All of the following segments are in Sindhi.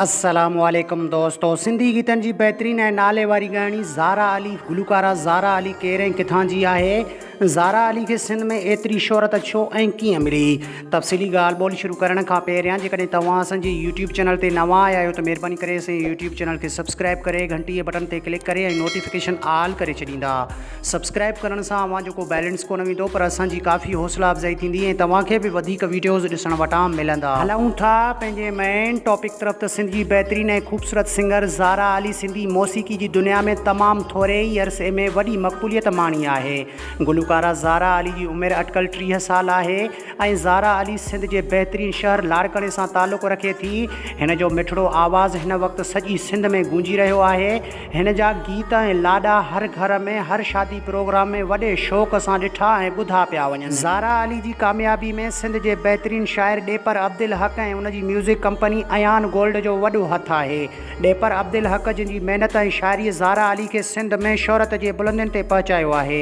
السلام عليڪم دوستو سنڌي گيتن جي بهترين ۽ نالي واري ڳائڻي زارا علي گلوڪارا زارا علي ڪير ۽ ڪٿان جي آهي زارا علي کي سنڌ ۾ ايتري شهرت ڇو ۽ ڪيئن ملي تفصيلي ڳالهه ٻولهه شروع ڪرڻ کان پهريان جيڪڏهن توهان اسان جي يوٽيوب چينل تي نوان آيا آهيو ته مهرباني ڪري اسان جي يوٽيوب چينل کي سبسڪرائب ڪري گهنٽي جي بٽن تي ڪلڪ ڪري ۽ نوٽيفڪيشن آل ڪري ڇڏيندا سبسڪرائب ڪرڻ سان اوهان جو ڪو بيلنس ڪونه ويندو پر اسان جي ڪافي حوصلا افزائي ٿيندي ۽ توهان کي به وڌيڪ ويڊيوز ڏسڻ وٽان ملندا. هلون ٿا پنهنجي مين ٽاپڪ طرف ته سنڌ جي بهترين ۽ خوبصورت سنگر زارا علي سنڌي موسيقي جي دنيا ۾ تمام ٿوري ئي عرصي ۾ وڏي مقبوليت ماڻي آهي گلوڪارا زارا علي جي عمر اٽڪل ٽيهه سال آهي ۽ زارا علي سنڌ جي بهترين شهر لاڙڪاڻي سان تعلق رکي ٿي هن جو مٺڙو آواز هن وقت سڄي سنڌ ۾ گونجي رهيو آهي هن جا گيت ۽ لاڏا هر گهر ۾ هر شادي پروگرام ۾ وڏي شوق سان ڏٺا ۽ ٻڌا پيا وڃن. زارا علي جي ڪاميابي ۾ سنڌ جي بهترين شاعر ڏيپر عبدالحق ۽ ان جي ميوزڪ ڪمپني ايان گولڊ جو وڏو هٿ آهي. ڏيپر عبدالحق جن جي محنت ۽ شاعري زارا علي کي سنڌ ۾ شهرت جي بلندين تي پهچايو آهي.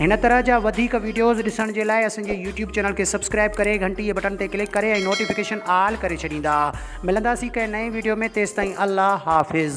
هن طرح جا وڌيڪ ويڊيوز ڏسڻ جي لاء اسان جي يوٽيوب چينل کي سبسڪرائب ڪري گهنٽي بٽن تي ڪلڪ ڪري ۽ نوٽيفڪيشن آل ڪري ڇڏيندا ملنداسين ڪنهن نئين ويڊيو ۾ تيستائين الله حافظ.